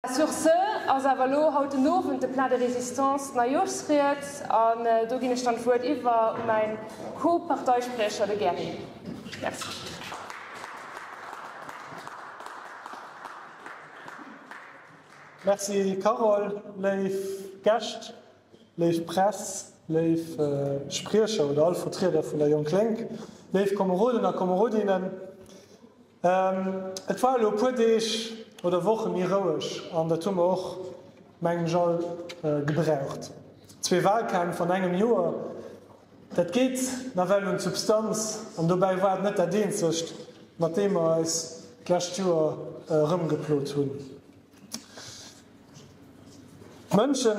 Sur ce ass awer elo haut den Owend de Plat de résistance, d'Neijoerschsried, an do ginn ech dann d'Wuert iwwer u mäin Co-Parteispriecher, de Gerry. Merci. Merci Carole. Léif Gäscht, léif Press, léif Spriecher oder all Vertrieder vun der Jonk-Lénk, léif Komeroden a Komerodinnen, Et war elo e puer Deeg oder Woche méi roueg an dat hu mer och, mengen ech, all gebraucht. Zwee Wahlkämpf an engem Joer, dat geet nawell un d'Substanz an dobäi war et net dat eenzegt, mat deem mer eis d'lescht Joer erëmgeplot hunn. D'Mënsche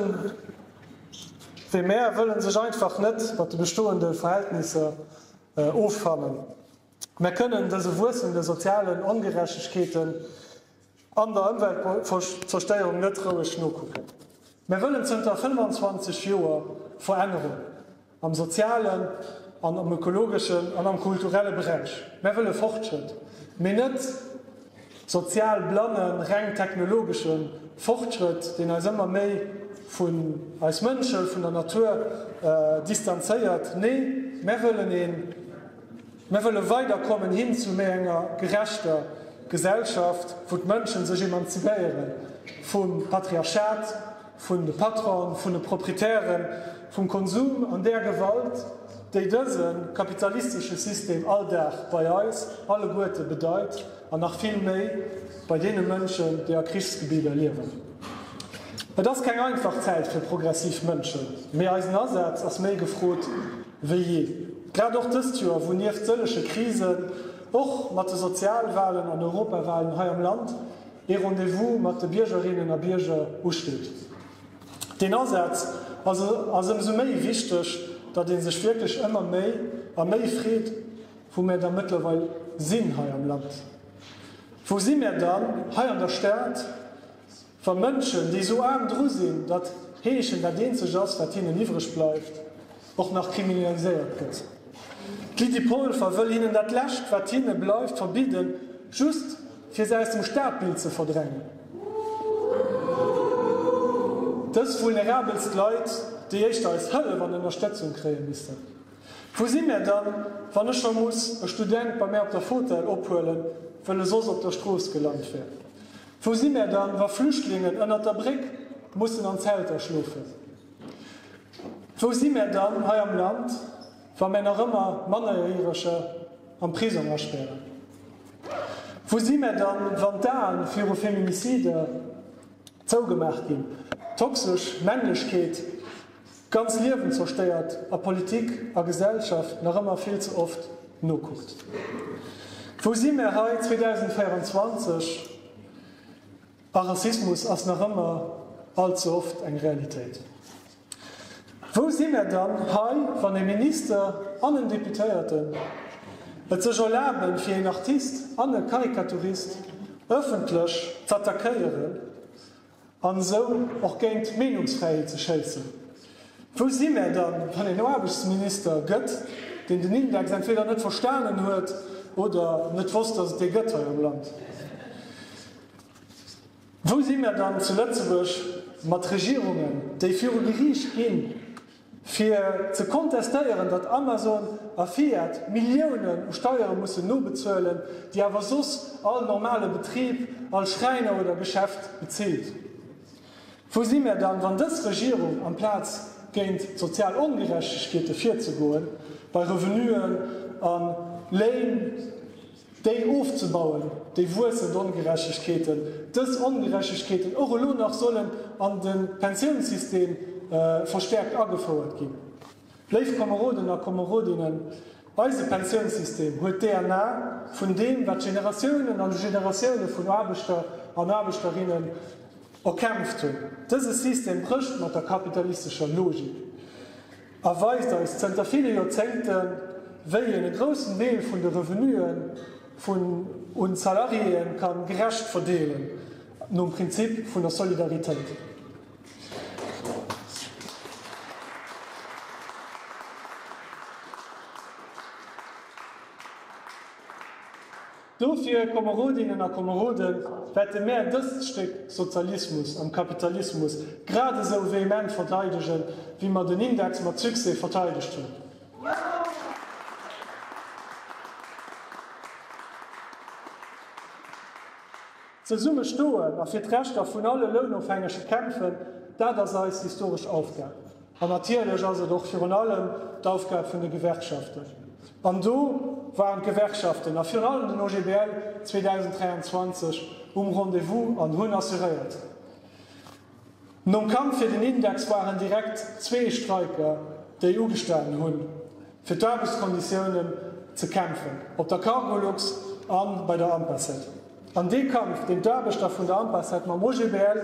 wéi mär wëlle sech einfach net mat de bestoende Verhältnisser offannen. Mir kënnen dëse wuessende sozialen Ongerechtegkeeten an der Ëmweltzerstéierung net roueg nokucken. Mir wëllen zënter 25 Joer Verännerung am sozialen an am ökologeschen an am kulturelle Beräich. Mir wëlle Fortschrëtt, mee net sozial blanne, reng technologesche Fortschrëtt, deen eis ëmmer méi vun eis Mënsche, vun der Natur distanzéiert. Nee, mir wëllen een. Mir wëlle weiderkommen hin zu méi enger gerechter Gesellschaft, wou d'Mënschen sech emanzipéieren vum Patriarchat, vun de Patronen, vun de Proprietären, vum Konsum an där Gewalt, déi dëse kapitalistesche System all Dag bei eis alleguerte bedeit an nach vill méi bei deene Mënschen, déi a Krichsgebidder liewen. Et ass keng einfach Zäit fir progressiv Mënschen, mee eisen Asaz ass méi gefrot Wéi jee. Grad och dëst Joer, wou nieft sëllege Krisen och mat de Sozialwalen an Europawalen hei am Land ee Rendez-vous mat de Biergerinnen a Bierger usteet. Deen Asaz ass ëmsou méi wichteg, datt ee sech wierklech ëmmer méi a méi freet, wou mär da mëttlerweil sinn hei am Land. Wou si mär dann hei an der Stad? Wa Mënschen, déi esou aarm dru sinn, datt Heeschen dat eenzegt ass, wat hinnen iwwreg bleift, och nach kriminaliséiert gëtt. D'Lydie Polfer wëll hinnen dat Lescht, wat hinne bleift, verbidden, just fir se aus dem Stadbild ze verdrängen. Dës vulnerabelst Leit, déi éischter eis Hëllef an Ënnerstëtzung kréie missten. Wou si mär dann, wann ech scho muss e Student bei mär op der Fotell ophuelen, wëll e soss op der Strooss gelant wär? Wou si mär dann, wa Flüchtlingen ënnert der Bréck mussen an Zelter schlofen? Wou si mär dann hei am Land, wa mär nach ëmmer Mannerjäreger am Prisong aspären? Wou si mär dann, wann d'Aen viru Feminicider zougemaach ginn, toxesch Männlechkeet, Ganz Liewen zerstéiert a Politik a Gesellschaft nach ëmmer vill ze oft nokuckt. Wou si mär hei 2024 a Rassismus ass nach ëmmer all ze oft eng Realitéit. Wou si mär dann hei wann e Minister an en Deputéierten et sech erlaben fir een Artist an e Karikaturist ëffentlech z'attackéieren An esou och géint d'Meenungsfräiheet ze schéissen. Wou si mär dann, wann een Aarbechtsminister gëtt, deen den Index entweder net verstanen huet oder net wosst, datt et dee gëtt hei am Land? Wou si mär dann zu Lëtzebuerg mat Regierungen, déi viru Geriicht ginn, Fir ze kontestéieren, datt Amazon a Fiat Milliounen u Steiere mussen nobezuelen, déi awer soss all normale Betrib, all Schräiner oder Geschäft bezilt. Wou si mär dann, wann dës Regierung amplaz géint d'sozial Ongerechtegkeete virzegoen, bei Revenuen a Léin? Déi ofzebauen, déi wuessend Ongerechtegkeeten, dës Ongerechtegkeeten och elo nach sollen an de Pensiounssystem verstärkt agefouert ginn. Léif Komeroden a Komerodinnen, eise Pensiounssystem huet d'DNA vun deem, wat Generatiounen an Generatioune vun Aarbechter an Aarbechterinnen erkämpft hunn. Dëse System brécht mat der kapitalistescher Logik. a weist eis zënter ville Joerzéngten, wéi een e groussen Deel vun de Revenuen vun un d'Salariéeën kann gerecht verdeelen, nom Prinzip vun der Solidaritéit. Dofir, Komerodinnen a Komeroden, wäerte mär dëst Stéck Sozialismus am Kapitalismus grad esou vehement verdeidegen, wéi mer den Index mat Succès verteidegt hunn. Zesumme stoen a fir d'Rechter vun alle Lounofhängege kämpfen, dat ass eis historesch Aufgab. An natierlech ass et och virun allem d'Aufgab vun de Gewerkschaften. An do waren d'Gewerkschaften a virun allem den OGBL 2023 um Rendez-vous an hunn assuréiert. Nom Kampf fir den Index waren direkt zwee Streiker, déi ugestanen hunn, fir d'Aarbechtskonditiounen ze kämpfen, op der Cargolux a bei der Ampaset. An dee Kampf, deen d'Aarbechter vun der Ampaset mam OGBL,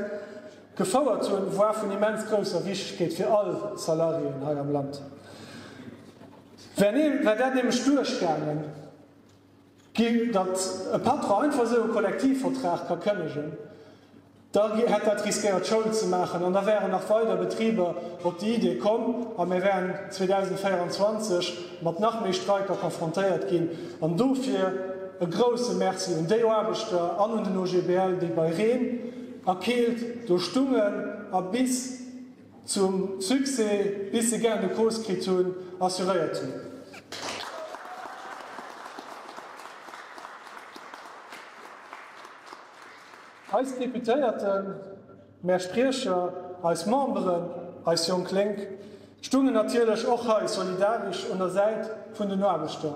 Gefouert zu en Voix vun immens grousser Wichtegkeet fir all Salariéen hei am Land, wär dat nämlech duerchgaangen ginn, datt e Patron einfach esou e Kollektivvertrag ka kënnegen, da hätt dat riskéiert Schoul ze maachen an da wären nach weider Betriber op déi Idee komm a mir wären 2024 mat nach méi Streiker confrontéiert ginn. An dofir e grouse Merci un déi Aarbechter an un den OGBL, déi bei Reen, A Keelt do stungen a bis zum Succès, bis se Gain de cause kritt hunn, assuréiert hunn. Eis Deputéierten, mär Spriecher, eis Memberen, eis jonk Lénk stungen natierlech och hei solidaresch un der Säit vun den Aarbechter.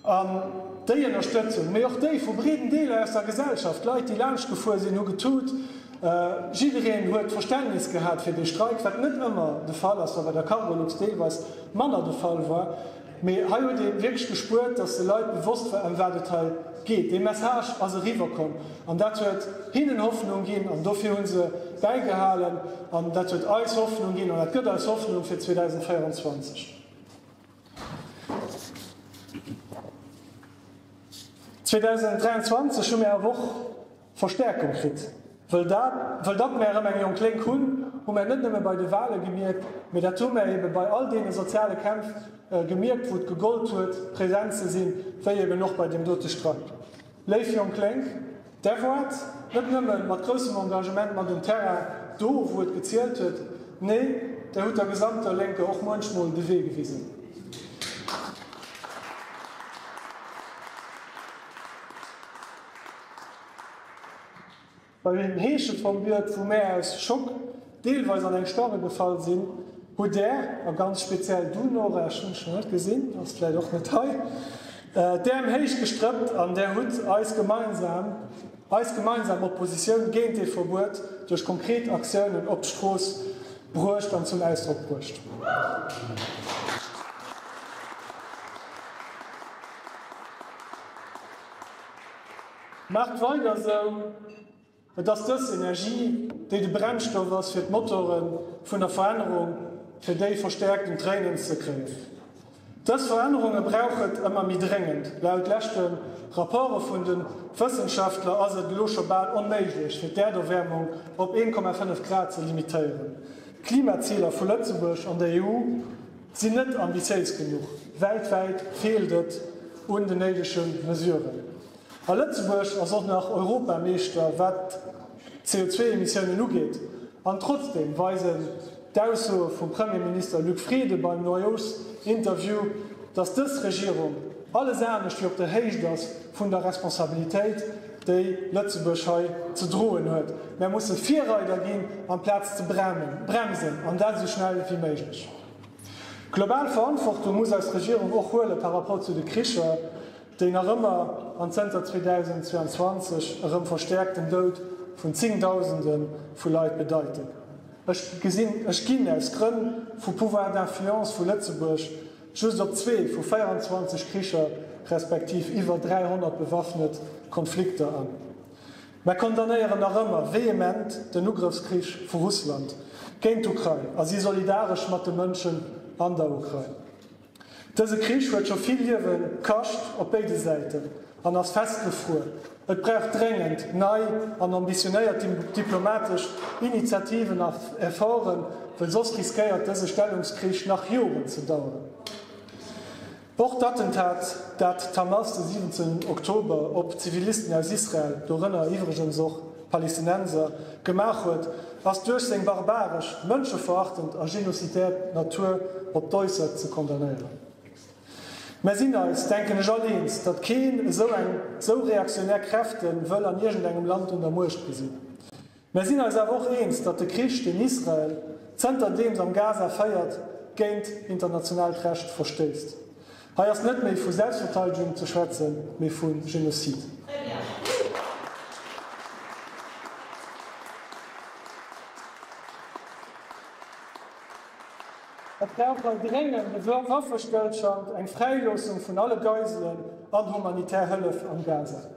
An déi Ënnerstëtzung, mee och déi vu breeden Deeler aus der Gesellschaft, d'Leit déi laanscht gefuer sinn, hu getut. Jiddereen huet Verständnis gehat fir dee Streik, wat net ëmmer de Fall ass, wat bei der Cargolux deelweis manner de Fall war. Mee hei huet ee wierklech gespuert, datt de Leit bewosst war ëm wat et hei geet. Dee Message ass eriwwer komm an dat huet hinnen Hoffnung ginn an dofir hu se bäigehalen an dat huet eis Hoffnung ginn an dat gëtt eis Hoffnung fir 2024. 2023 hu mär awer och Verstärkung kritt. Wëll datt mär erëm eng jonk Lénk hunn, hu mär net nëmme bei de Wale gemierkt, mee dat hu mär eebe bei all deene soziale Kämpf gemierkt, wou et gegollt huet, present ze sinn, wéi eeben och bei deem dote Streik. Léif jonk Lénk, Där waart net nëmme mat groussem Engagement mat um Terrain, do wou et gezielt huet, nee, Där hutt der gesamter Lénker och muenchmol de Wee gewisen. Well den Heesche vum Biert vu mär aus Schock deelweis an eng Sparre gefall sinn, hutt där, a ganz speziell du Nora, ech hunn dech nach net gesinn, ass vläit och net hei, d'Äerm héich gestrëppt an där hutt eis gemeinsam, eis gemeinsam Oppositioun géint dee Verbuet duerch konkret Aktiounen op d'Strooss bruecht an zum Ausdrock bruecht. Maacht weider esou! Et ass dës Energie, déi de Brennstoff ass fir d'Motore vun der Verännerung, fir déi verstäerkt un d'Réinen ze kréien. Dës Verännerunge brauch et ëmmer méi dréngend. Laut leschte Rapporte vun de Wëssenschaftler ass et elo scho bal onméiglech, fir d'Äerderwäermung op 1,5 Grad ze limitéieren. D'Klimaziler vu Lëtzebuerg an der EU sinn net ambitiéis genuch. Weltwäit feelt et un den néidege Mesuren. A Lëtzebuerg ass och nach Europameeschter wat d'CO2-Emissiounen ugeet. An trotzdeem weisen d'Aussoe vum Premierminister Luc Frieden beim Noyauxinterview, datt dës Regierung alles anescht wéi op der Héicht ass vun der Responsabilitéit, déi Lëtzebuerg hei ze droen huet. Mär musse Virreider ginn, amplaz ze bremsen, an dat esou schnell wéi méiglech. Global Verantwortung muss eis Regierung och huele par rapport zu de Kricher, Déi nach ëmmer an zënter 2022 erëm verstäerkten Doud vun zéngdausende vu Leit bedeiten, ech gesinn, ech ginn aus Grënn vu Pouvoir d'influence vu Lëtzebuerg just op zwee vu 24 Kricher respektiv iwwer 300 bewaffnet Konflikter an, mä condamnéieren nach ëmmer vehement den Ugrëffskrich vu Russland géint d'Ukrain a si solidaresch mat de Mënschen an der Ukrain. Dëse Krich huet scho vill Liewe kascht op béide Säiten an ass festgefruer. Et brauch dréngend nei an ambitionéiert diplomatesch Initiativen a Efforten, well soss riskéiert dëse Stellungskrich nach Joren ze daueren. Och d'Attentat, dat d'Hamas de 17 Oktober op Zivilisten aus Israel, dorënner iwwregens och Palestinenser, gemaach huet, ass duerch seng barbaresch, mënscheverachtend a genozidär Natur op d'Äussert ze condamnéieren. Mär sinn eis, denken ech, all eens, datt keen esou eng, esou reaktionär Kräfte wëll an iergendengem Land un der Muecht gesinn. Mär sinn eis awer och eens, datt de Krich, deen Israel zënterdeems am Gaza féiert, géint internationaalt Recht verstéisst. Hei ass net méi vu Selbstverteidegung ze schwätzen, mee vu Genocide. Et brauch hei dréngend e Waffestëllschand, eng Fräiloossung vun alle Geiselen an humanitär Hëllef am Gaza.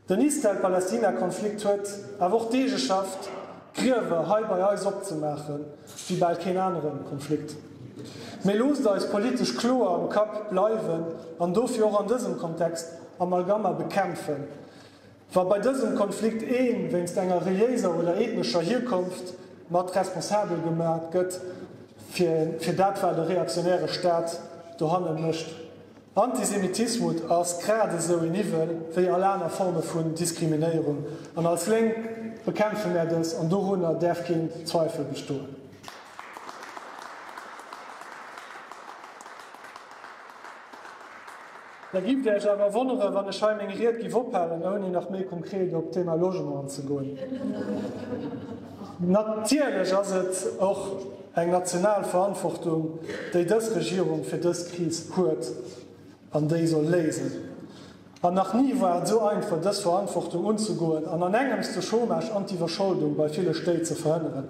Den Israel-Palästina-Konflikt huet awer och d'Idee geschafft, Griewer hei bei eis opzemaachen, wéi bal keen anere Konflikt. Mee loosst eis politesch kloer am Kapp bleiwen an dofir och an dësem Kontext Amalgama bekämpfen, wa bei dësem Konflikt ee wéinst enger reliéiser oder ethnescher Hierkonft mat responsabel gemaach gëtt fir dat, wat e reaktionäre Staat dohanne mécht. Antisemitismut ass grad esou een Iwwel wéi all aner Forme vun Diskriminéierung an als Lénk bekämpfe mär dës an dorunner däerf keen Zweifel bestoen. Da giff der iech awer wonneren, wann ech hei meng Ried giff ophalen ouni nach méi konkret op d'Thema Logement anzegoen. Natierlech ass et och. Eng national Verantwortung, déi dës Regierung fir dës Kris huet an déi soll léisen. An nach ni war et esou einfach, dës Verantwortung unzegoen an an engems de Chômage an d'Iwwerscholdung bei ville Stéit ze verhënneren.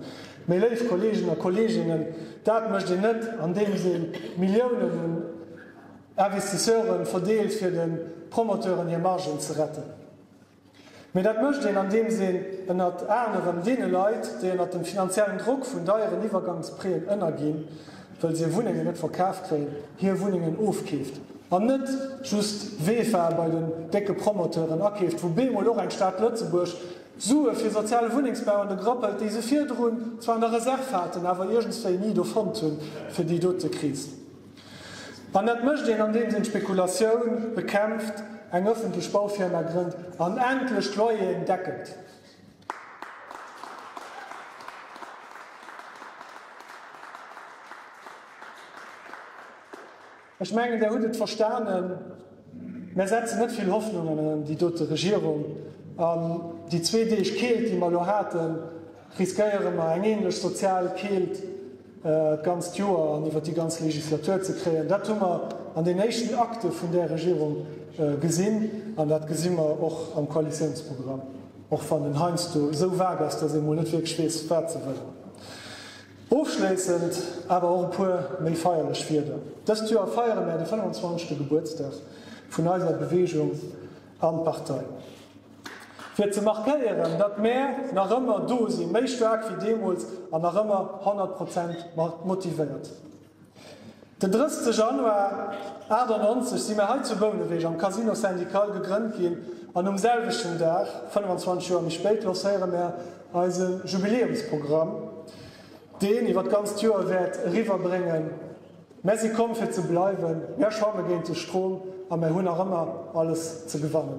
Mee, léif Kolleegen a Kolleeginnen, dat mécht een net, andeems ee Milliounen un Investisseuren verdeelt, fir de Promoteuren hir Margen ze retten. Mee dat mécht een, andeems een ënnert anerem deene Leit, déi ënnert dem finanziellen Drock vun deieren Iwwergangspreeën ënnerginn, well se hir Wunnengen net verkaf kréien, hir Wunnengen ofkeeft an net just Wefa bei den décke Promoteuren akeeft, wou bemol och eng Stad Lëtzebuerg d'Sue fir soziale Wunnengsbau an de Grapp hëlt, déi se virdrun zwar an der Reserv haten, awer iergendswéi ni do fonnt hunn, fir déi dote Kris. An dat mécht een, andeems een d'Spekulatioun bekämpft, eng ëffentlech Baufirma grënnt an endlech d'Loyeren deckelt. Ech mengen, Der hutt et verstanen, Mär setzen net vill Hoffnungen an déi dote Regierung. An déi zwee Deeg Keelt, déi mer elo haten, riskéiere mer eng änlech sozial Keelt d'ganzt Joer an iwwer déi ganz Legislatur ze kréien. Dat hu mer an den éischten Akte vun där Regierung gesinn an dat gesi mer och am Koalitiounsprogramm, och wann en heiansdo esou vague ass, datt ee mol net wierklech weess, wat se wëllen. Ofschléissend awer och e puer méi feierlech Wierder. Dëst Joer feiere mer de 25. Gebuertsdag vun eiser Beweegung an Partei. Fir ze markéieren, datt mär nach ëmmer do sinn, méi staark wéi deemools an nach ëmmer 100 Prozent motivéiert. Den 30 Januar 98 si mär hei zu Bouneweg am Casino Syndical gegrënnt ginn an um selwechten Dag, 25 Joer méi spéit, lancéiere mär eise Jubiläumsprogramm, deen iwwer d'ganzt Joer wäert eriwwerbréngen, Mär si komm fir ze bleiwen, mär schwamme géint de Strom a mär hunn nach ëmmer alles ze gewannen.